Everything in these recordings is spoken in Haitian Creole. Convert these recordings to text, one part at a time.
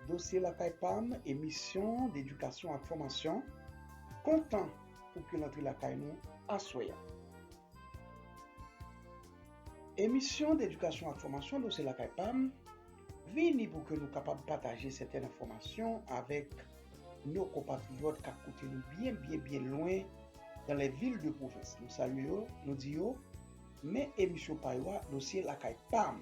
Dosye Lakay pa m, emisyon d'edikasyon ak fòmasyon, kontan pou ke l antre lakay nou aswè a. Emisyon d'edikasyon ak fòmasyon Dosye Lakay pa m vini pou ke nou kapab pataje sètèn enfòmasyon avèk nou konpatriyòt kap koute nou byen byen byen lwen dans les villes de province. Nou salye yo, nou di yo, men emisyon pa yo a, Dosye Lakay pa m.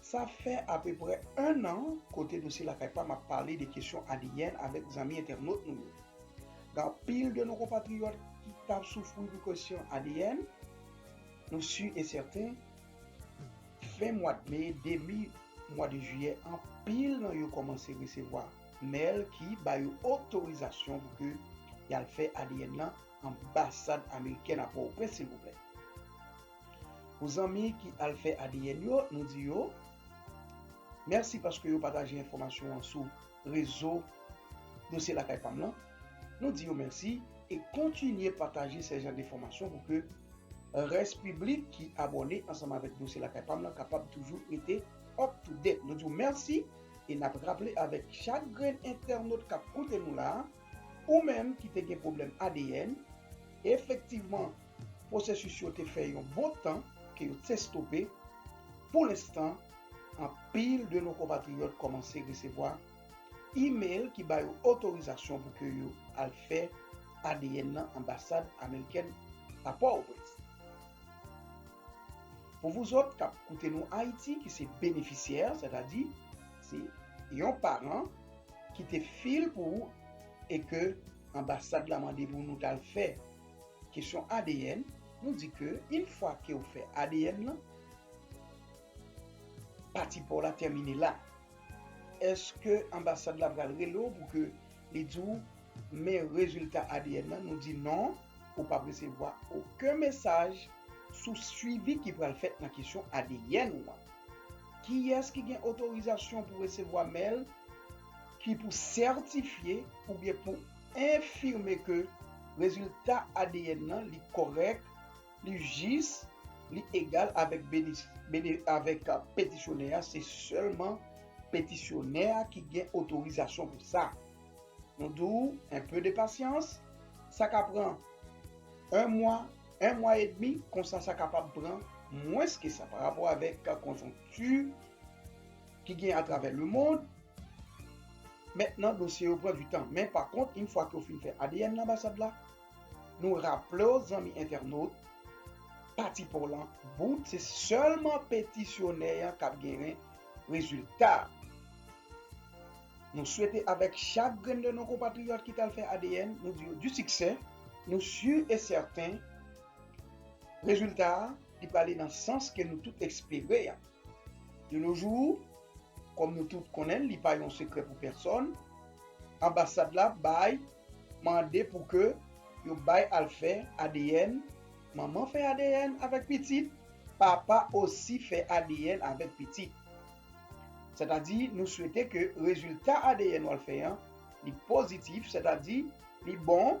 Sa fè apeprè 1 an kote Dosye Lakay Pam ap pale de kesyon ADN avèk zanmi entènot nou yo. Gen anpil de nou konpatriyòt ki t ap soufri pou kesyon ADN. Nou si e sèten, fen mwad me, debi mwad jiyè anpil nan yo kòmanse resevwa mèl ki ba yo otorizasyon pou ke y al fè ADN nan anbasad amerikèn a Pòtoprens silvouplè. Pou zanmi ki al fè ADN yo, nou di yo Mèsi paske yo pataje enfòmasyon an sou rezo Dosye Lakay Pam lan. Nou di yo mèsi e kontinye pataje sè jan de fòmasyon pou ke rès piblik ki abòne ansanm avèk Dosye Lakay Pam lan kapab toujou rete up to date. Nou di w mèsi e n ap raple avèk chak grenn entènot k ap koute nou la a, ou menm ki te gen pwoblèm ADN, efektivman, Pwosesis yo te fè yon bon tan ke yo te stope, pou lenstan anpil de nou konpatriyòt kòmanse resevwa imel ki ba yo otorizasyon pou ke yo al fè adn nan anbasad amerikèn a Pòtoprens. Pou vouzòt k ap koute nou Ayiti ki se benefisyè, sètadi se yon paran ki te fil pou ou e ke anbasad la mande pou nou t al fè Kesyon adn, nou di ke yn fwa kew fè adn lan, pati paw la tèmine la. Eske anbasad la pral rele w pou ke li di w men rezilta adn lan, nou di non, ou pap resevwa oken mesaj sou swivi ki pral fèt nan kesyon adn ou an. Kiyès ki gen otorizasyon pou resevwa mèl ki pou sètifye oubyen pou enfime ke rezilta adn nan li kòrèk, li jis, li egal avèk avèk petisyonè a, se sèlman petisyonè a ki gen otorizasyon pou sa. Nou di w, un peu de patience, sa ka pran 1 mwa, 1 mwa e demi, konsa sa kapab pran mwens ke sa parapò avèk konjonkti, ki gen atravè lemond. Mentnan dosye yo pran du tan men pa kont yn fwa ke yo fin fè adn nan anbasad la nou raplew zanmi entènot pati paw lan bout se sèlman petisyonè an kap geren rezilta a. Nou swete avèk chak grenn de nou konpatriyòt ki tal fè adn nou di yo du siksè nou sur e sèten rezilta a li prale nan sans ke nou tout espere an. De nos jours, kòm nou tout konnen l, li pa yon sekrè pou pèsòn, anbasad la bay mande pou ke yo bay al fè adn, manman fè adn avèk pitit, papa osi fè adn avèk pitit. Sètadi nou swete ke rezilta adn w al fè an li pozitif, sètadi li bon,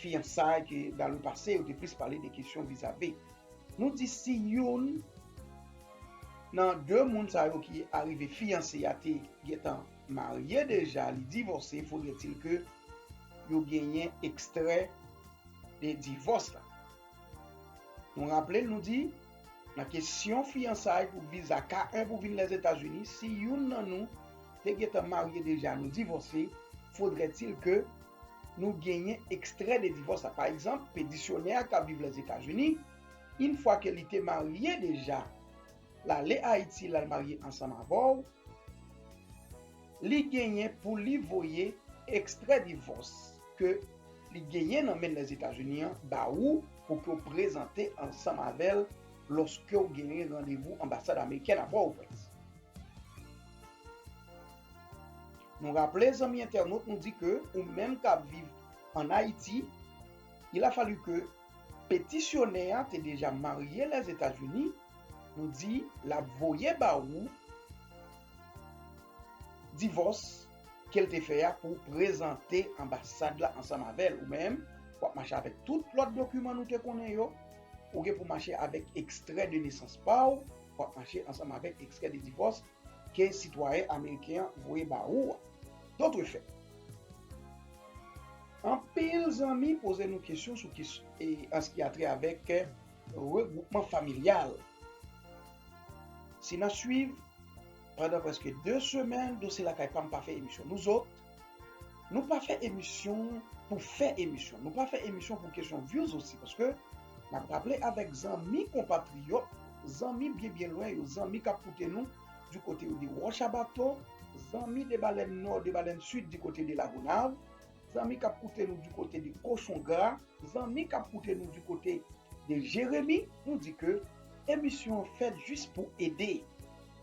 Fiyansay ke la lwe pase yo te plis pale de kesyon viza be. Nou di si youn Nan 2 moun sa yo ki arive fiyanse ya te gentan marye deja li divòse fodre til ke yo genyen ekstrè de divòs la. Nou raple nou di Nan kesyon fiyansay pou viza ka 1 pou vin Lèzetazini si youn Nan nou te gentan marye deja nou divòse fodre til ke Nou genyen ekstrè de divòs la. Pa egzanp, petisyonè a k ap viv Lèzetazini, yn fwa ke li te marye deja, l ale Ayiti, l al marye ansanm avè w, li genyen pou li voye ekstrè divòs ke li genyen nan men l Lèzetazini an ba ou pou ke w prezante ansanm avè l lòske w genyen randevou anbasad amerikèn a Pòtoprens. Nou raple zanmi entènot nou di ke ou menm kap viv an Ayiti, il a fallu ke petisyonè a te deja marye Lèzetazini, nou di lap voye ba ou divòs kel te fè a pou prezante anbasad la ansanm avèl. Ou menm, wap mache avèk tout lòt dokiman nou te konnen yo, ou gen pou mache avèk ekstrè de nesans pa ou, wap mache ansanm avèk ekstrè de divòs. ke sitwayen ameriken an voye ba ou a. Dotrefèt, anpil zanmi poze nou kesyon sou kes e an s ki a trè avèk regwoupman familyal. Si n ap suiv, pandan prèske 2 semèn Dosye Lakay pa m pa fè emisyon nou zot, Nou pa fè emisyon pou fè emisyon. Nou pa fè emisyon pou kesyon vyouz osi. Paske, n ap raple avèk zanmi konpatriyòt, zanmi byen byen lwen yo, zanmi k ap koute nou di kote yo di Wòch a Bato, zanmi de Balèn Nò, de Balèn Sid di kote de Lagonav, zanmi k ap koute nou di kote de Kochon Gra, zanmi k ap koute nou di kote de Jeremi, nou di ke emisyon an fèt jis pou ede.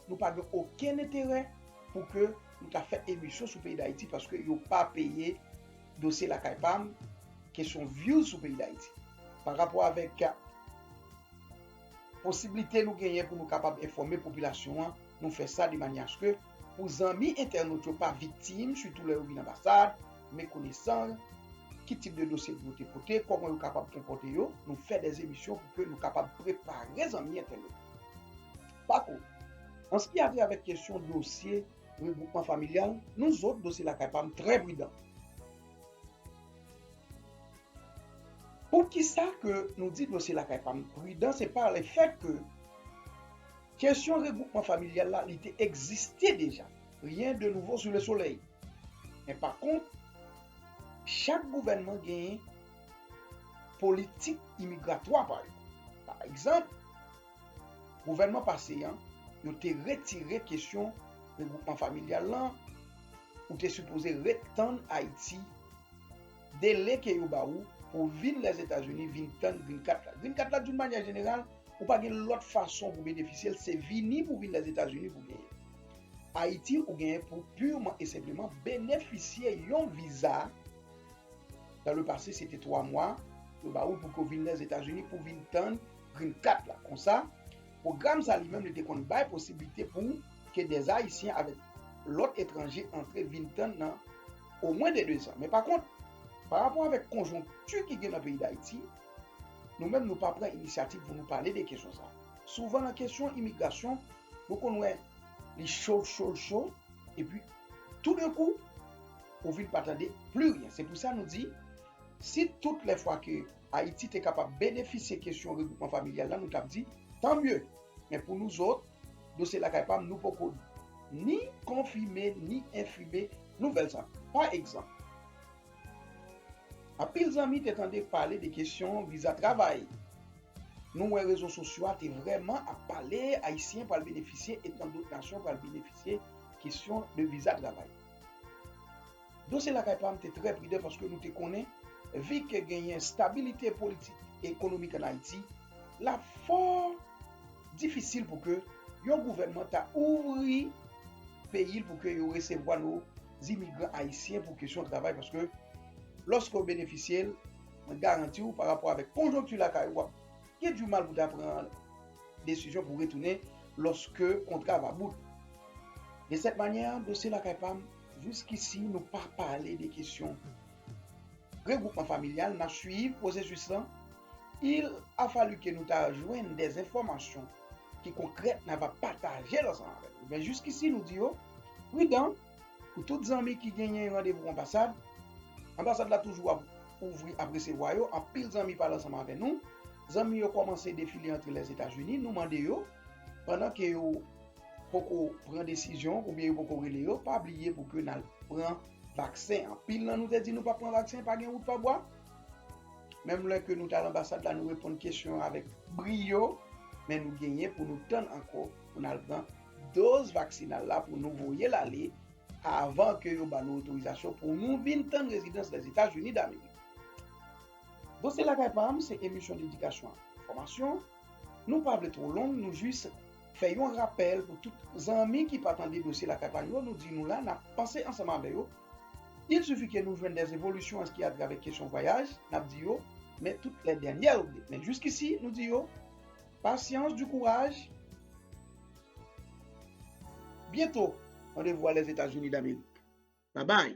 Nou pa gen okenn enterè pou ke. Nou ta fè emisyon sou peyi dayiti paske yo pa peye dosye lakay pam kesyon vyouz sou peyi dayiti pa rapò avèk posiblite nou genyen pou nou kapab enfòme popilasyon an nou fè sa de manyè aske pou zanmi entènot yo pa viktim sitou lè yo vin anbasad mekonesan ki tip de dosye pou yo te pote kòman yo kapab konpòte yo nou fè dè emisyon pou ke nou kapab prepare zanmi entènot. Pa kont, an s ki a vè avèk kesyon dosye regwoupman familyal, nou zòt, dosye lakay pa m, trè pridan. Poukisa ke nou di dosye lakay pa m pridan, se pa le fèt ke kesyon regwoupman familyal la li te egziste deja, rien de nouveau sous le soleil. Men pa kont, chak gouvènman genyen politik imigratwa pa yo. Pa egzanp, Gouvènman pase an, yo te retire kesyon regwoupman familyal lan, ou te sipoze ret tann Ayiti, dele ke yo ba ou pou w vin Lèzetazini vin tann Green Card la. Green Card la doun manyè jeneral, ou pa gen lòt fason pou benefisye l, se vini pou vin Lèzetazini pou genyen. Ayiti ou genyen pou purman e senpleman benefisye yon viza, dans le passé se te 3 mwa, yo ba ou pou ke w vin Lèzetazini pou vin tann, Green Card la. Konsa, pwogram sa li menm li te konn bay posiblite pou ke dè Ayisyen avèk lòt etranje antre vin tann nan o mwen de 2 zan. Men pa kont, pa rapò avèk konjonkti ki gen nan peyi Dayiti, nou menm nou pa pran inisyativ pou nou pale de kesyon sa. Souvan nan kesyon imigrasyon, nou konn wè li cho, cho, cho, epi tou de kou, ou vin pa tande pli ryen. Se pou sa nou di, si tout lè fwa ke. Ayiti te kapab benefisye kesyon regwoupman familyal la, nou t ap di, Tant mieux! Men pou nouzot, dosye lakay pa m, nou poko ni konfime ni enfime nouvèl sa a. Pa egzanp, anpil zanmi te tande pale de kesyon viza travay. Nou wè rezo sosyo a te vrèman ap pale, Ayisyen pral benefisye e tant dot nasyon pral benefisye kesyon de viza travay. Dosye Lakay pa m te trè pridan paske nou te konnen vi ke genyen stabilite politik e ekonomik an Ayiti, l ap fò difisil pou ke yon gouvènman ta ouvri peyi l pou ke yo resevwa nou imigran ayisyen pou kesyon travay paske lòske ou benefisye l, mwen garanti ou pa rapò avèk konjonkti lakay ou, w ap gen di mal pou ta pran desizyon pou retounen lòske kontra va bout. De sèt manyè, Dosye Lakay pa m. Jiskisi nou pa pale de kesyon regwoupman familyal nan swiv pwosesis lan, il a fallu ke nou ta jwenn des enfòmasyon ki konkrèt na va pataje l ansanm avèk nou. Men jiskisi nou di yo pridan pou tout zanmi ki genyen randevou anbasad, anbasad la toujou ap ouvri ap resevwa yo, anpil zanmi pale ansanm avè nou, zanmi yo kòmanse defile antre Lèzetazini, nou mande yo pandan ke yo. poko pran desizyon oubyen yo poko rele yo pa bliye pou ke nal pran vaksen anpil nan nou te di nou pap pran vaksen pa gen wout pa bwa menm lè ke nou tal anbasad la nou reponn kesyon yo avèk briyo men nou genyen pou nou tann ankò pou nal pran doz vaksinal la pou nou voyel ale avan ke yo banou otorizasyon pou nou vin tann rezidans lèzetazini damerik. Bon se lakay pam se emisyon dedikasyon ak enfòmasyon. Nou pa vle two long nou jis Fè yon rapèl pou tout zanmi ki pa tande dosye lakay pa nou yo nou di nou la nap panse ansanm avè yo il sufi ke nou jwenn des evolisyon anski a travè kesyon vwayaj nap di yo men tout lè dènyè update men jiskisi nou di yo pasyans du kouraj byento randevou a lèzetazini damerik babay.